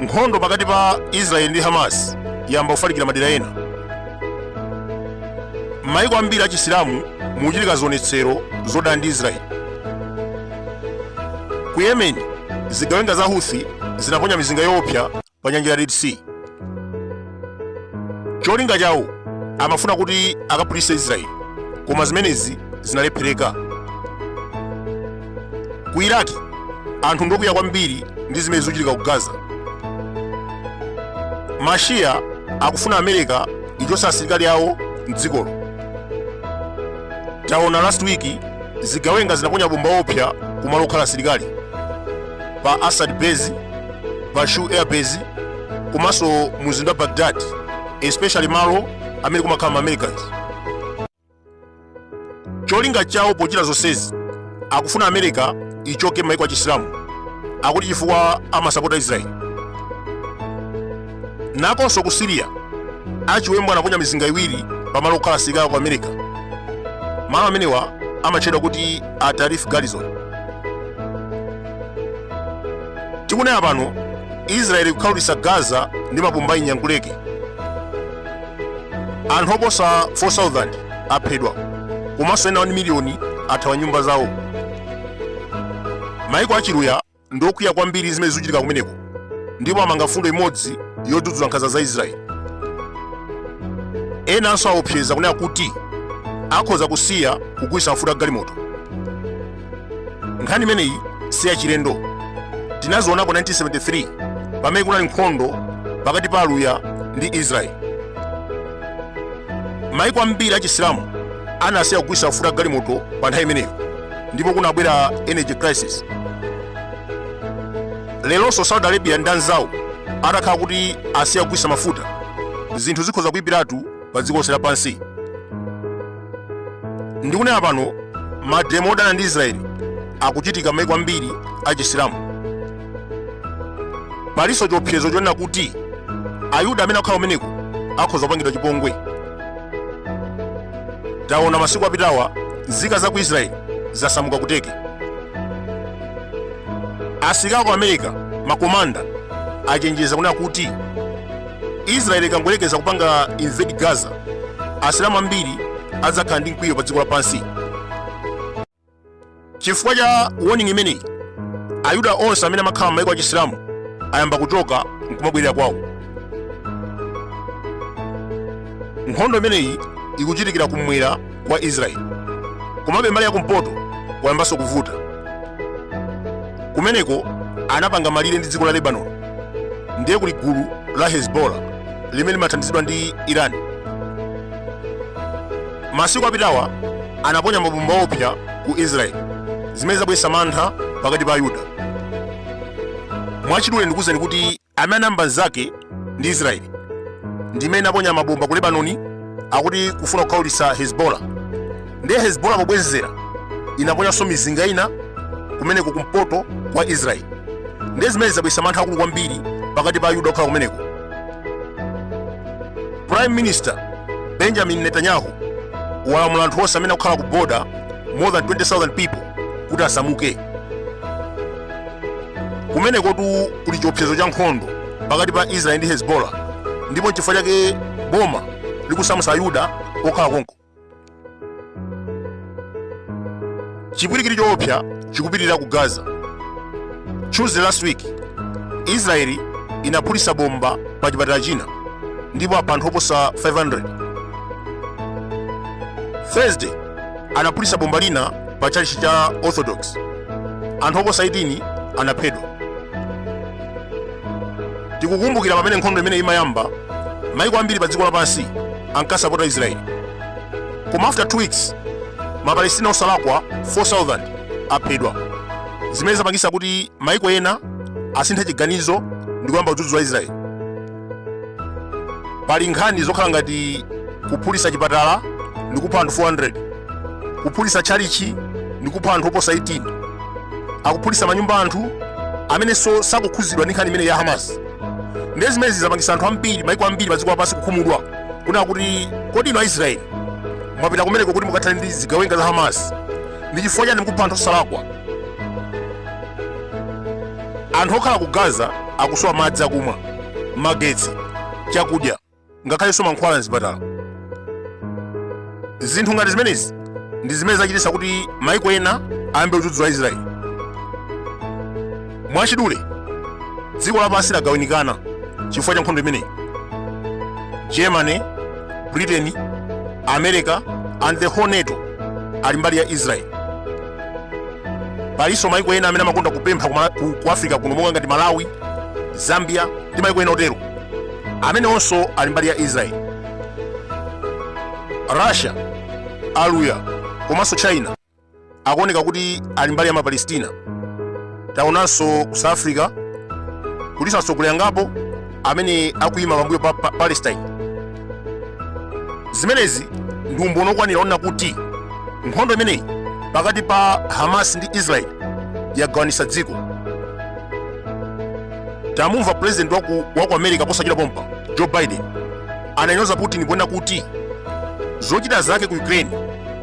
nkhondo pakati pa israeli ndi hamas yamba kufalikira madera ena m'mayiko ambiri a chisilamu mukuchitika zionetsero zodana ndi israeli ku yemen zigawenga za huthi zinaponya mizinga yoopsa pa nyanja ya red sea cholinga chawo amafuna kuti akaphulise israeli koma zimenezi zinalephereka ku iraki anthu ndokwiya kwambiri ndi zimene zikuchitika ku gaza mashiya akufuna america ichotse asilikali awo mdzikolo taona last week zigawenga zinaponya bomba loopsa kumalo okhala asilikali pa Assad Base, pa Shu Air Base, komanso mumzinda wa Baghdad, especially malo amene kumakhala ma Americans. Cholinga chawo pochita zonsezi akufuna America ichoke maiko a Chisilamu akuti chifukwa amasapota Israel. Nakonso ku Syria achiwembu anaponya mizinga iwiri pamalo okhala asilikali ku America. Malo amenewa amatchedwa kuti Al Tanf Garrison. tikunena pano israeli kukhaulitsa gaza ndi mabomba inyanguleke anthu oposa 4000 aphedwa komanso ena 1 miliyoni athawa nyumba zawo maiko achiluya ndi okwiya kwambiri zimene zikuchitika kumeneko ndipo amanga mfundo imodzi yodzudzula nkhanza za israeli enanso aopseza kunena kuti akhoza kusiya kugulitsa mafuta a galimoto nkhani imeneyi si yachilendo tinazionako 1973 pamene kunali nkhondo pakati pa aluya ndi israeli maiko ambiri achisilamu anasiya kugulitsa mafuta a galimoto pa nthawi imeneyo ndipo kunabwera energy crisis lelonso saudi arabia ndi anzawo atakhala kuti asiya kugulitsa mafuta zinthu zikhoza kuipiratu pa dziko lonse lapansi ndikunena pano mademo odana ndi israeli akuchitika maiko ambiri achisilamu palinso chiopsezo chonena kuti ayuda amene akhala kumeneko akhoza kupangidwa chipongwe taona masiku apitawa nzika za ku israeli zasamuka ku turkey asilikali ku america makomanda achenjeza kunena kuti israeli ikangoyerekeza kupanga invade gaza asilamu ambiri adzakhala ndi mkwiyo pa dziko lapansi chifukwa cha warning imeneyi ayuda onse amene amakhala m'mayiko a chisilamu ayamba kuchoka nkumabwerera kwawo nkhondo imeneyi ikuchitikira kumwera kwa Israeli. Komabe mbali yakumpoto kwayambanso kuvuta. Kumeneko anapanga malire ndi dziko la Lebanoni, ndiye kuli gulu la Hezbollah limene limathandizidwa ndi Iran. Masiku apitawa anaponya mabomba opsa ku Israeli zimene zabweretsa mantha pakati pa Ayuda. Mwachidule ndikuwuzeni kuti amene anayamba nzake ndi israeli ndimene inaponya mabomba ku lebanoni akuti kufuna kukhaulitsa hezbollah ndiye hezbollah pobwezera inaponyanso mizinga ina kumeneko kumpoto kwa israeli ndiye zimene zabweretsa mantha akulu kwambiri pakati pa ayuda okhala kumeneko prime minister benjamin netanyahu walamula anthu onse amene akukhala ku border more than 20000 people kuti asamuke kumenekotu kuli chiopsezo cha nkhondo pakati pa israeli ndi hezbollah ndipo nchifukwa chake boma likusamutsa ayuda okhala konko chipwirikiti choopsa chikupitirira ku gaza tuesday last week israeli inaphulitsa bomba pa chipatala china ndipo apha anthu oposa 500 thursday anaphulitsa bomba lina pa tchalitchi cha orthodox anthu oposa 18 anaphedwa tikukumbukira pamene nkhondo imeneyi imayamba maiko ambiri pa dziko lapansi ankasapota israeli koma after 2 weeks mapalestina osalakwa 4000 aphedwa zimene zapangisa kuti maiko ena asinthe chiganizo ndi kuyamba kudzudzula israeli pali nkhani zokhala ngati kuphulitsa chipatala ndi kupha anthu 400 kuphulitsa tchalichi ndi kupha anthu oposa 18 akuphulitsa manyumba a anthu amenenso sakukhudzidwa ndi nkhani imeneyi ya hamas ndiye zimenezi zapangisa anthu ambiri maiko ambiri padziko lapansi kukhumudwa kunena kuti kodi inu aisraeli mwapita kumeneko kuti mukathane ndi zigawenga za hamas ndi chifukwa chani mukupha anthu osalakwa anthu okhala ku gaza akusowa madzi akumwa magetsi chakudya ngakhalenso mankhwala mzipatala zinthu ngati zimenezi ndi zimene zachititsa kuti maiko ena ayambe kudzudzula israeli mwachidule dziko lapansi lagawanikana chifukwa cha nkhondo imeneyi germany britain america and the whole nato ali mbali ya israeli palinso maiko ena amene amakonda kupempha ku africa kuno monga ngati malawi zambia ndi maiko ena otero amenewonso ali mbali ya israel russia aluya komanso china akuoneka kuti ali mbali ya mapalestina taonanso ku south africa kulinso atsogoleri angapo amene akuyima pambuyo pa palestine zimenezi ndi umboni okwanira onena kuti nkhondo imeneyi pakati pa hamas ndi israel yagawanisa dziko tamumva president waku america posachita pompa joe biden ananyoza putin ponena kuti zochita zake ku ukraine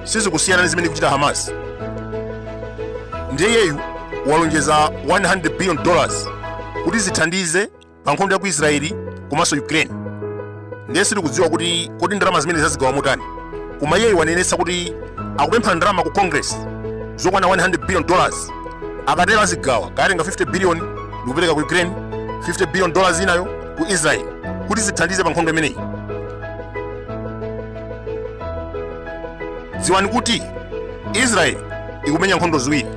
sizikusiyana ndi zimene ikuchita hamas ndiye iyeyu walonjeza 100 billion dollars kuti zithandize pa nkhondo ya ku israeli komanso ukraine ndiye sitikudziwa kuti kodi ndalama zimenezi azigawa motani koma iyeyi wanenetsa kuti akupempha ndalama ku congress zokwana 100 billion dollars akatero azigawa kaya atenga 50 billion ndikupereka ku ukraine 50 billion dollars inayo ku israel kuti zithandize pa nkhondo imeneyi dziwani kuti israel ikumenya nkhondo ziwiri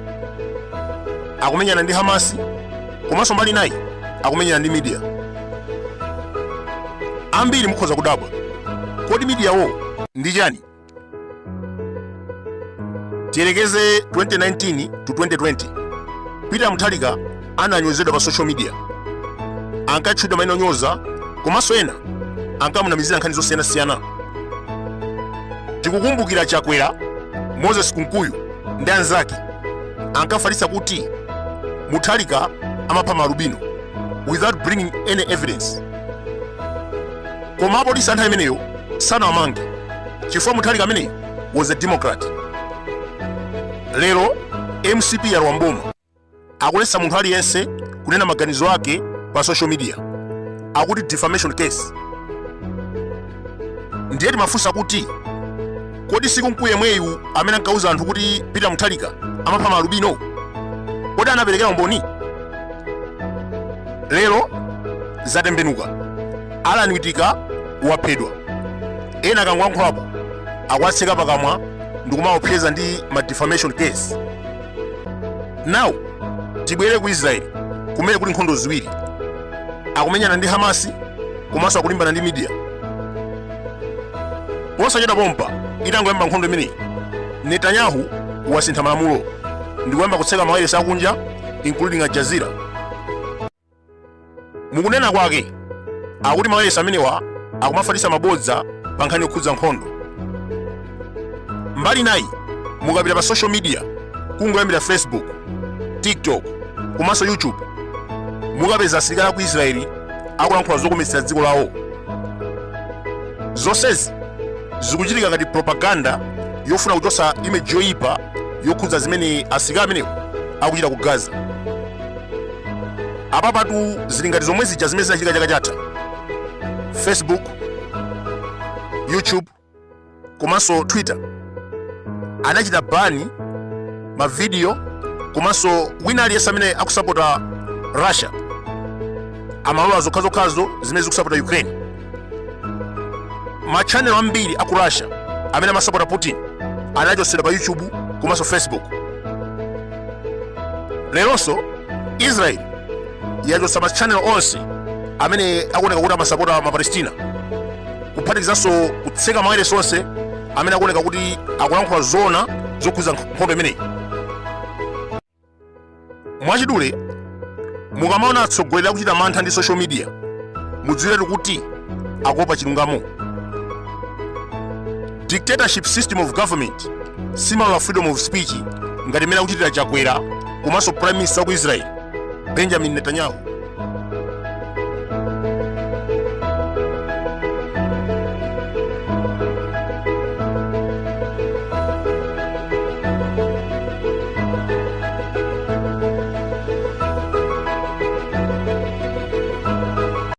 akumenyana ndi hamasi komanso mbali inayi akumenyana ndi media ambiri mukhoza kudabwa kodi mediawo ndi chani tiyerekeze 2019 to 2020 peter mutharika ananyozedwa pa social media ankatchulidwa maina onyoza komanso ena ankamunamizira nkhani zosiyanasiyana tikukumbukira chakwera moses kunkuyu ndi anzake ankafalitsa kuti muthalika amapha maalubino without bringing any evidence koma apolisi anthu amenewo sanawamange chifukwa muthalika ameneyo was a democrat lero mcp yalowa mboma akuletsa munthu aliyense kunena maganizo ake pa social media akuti defamation case ndiye timafunsa kuti Kodi si Kunkuyu yemweyu amene ankauza anthu kuti Peter Mutharika amapha maalubino? Kodi anaperekera umboni? Lero zatembenuka. Alan Witika waphedwa. Ena akangoyankhulapo akuwatseka pakamwa ndikumaopseza ndi ma defamation case. Now tibwere ku Israel kumene kuli nkhondo ziwiri akumenyana ndi Hamasi komanso akulimbana ndi media. posachedwa pompano itangoyamba nkhondo imeneyi netanyahu wasintha malamulo ndikuyamba kutseka mawayilesi akunja including al jazeera mukunena kwake akuti mawayilesi amenewa akumafalitsa mabodza pa nkhani yokhudza nkhondo mbali nayi mukapita pa social media kungoyambira facebook tiktok komanso youtube mukapeza asilikali aku israeli akulankhula zokometsera dziko lawo zonsezi zikuchitika ngati propaganda yofuna kuchotsa imeji yoyipa yokhudza zimene asilikali amenewo akuchita ku gaza apapatu zili ngati zomwe zija zimene zinachitika chaka chatha facebook youtube komanso twitter anachita bani mavidiyo komanso wina aliyense amene akusapota russia amalola zokhazokhazo zimene zikusapota ukraine machanelo ambiri aku russia amene amasapota putin anachotsedwa pa youtube komanso facebook leronso israel yachotsa machanelo onse amene akuoneka kuti amasapota ma palestina kuphatikizanso kutseka mawailesi onse amene akuoneka kuti akulankhula zoona zokhudza nkhondo imeneyi mwachidule mukamaona atsogoleri akuchita mantha ndi social media mudziwiretu kuti akuopa chilungamo dictatorship system of government simalola freedom of speech ngati mmene akuchitira chakwera komanso prime minister wa ku israel benjamin netanyahu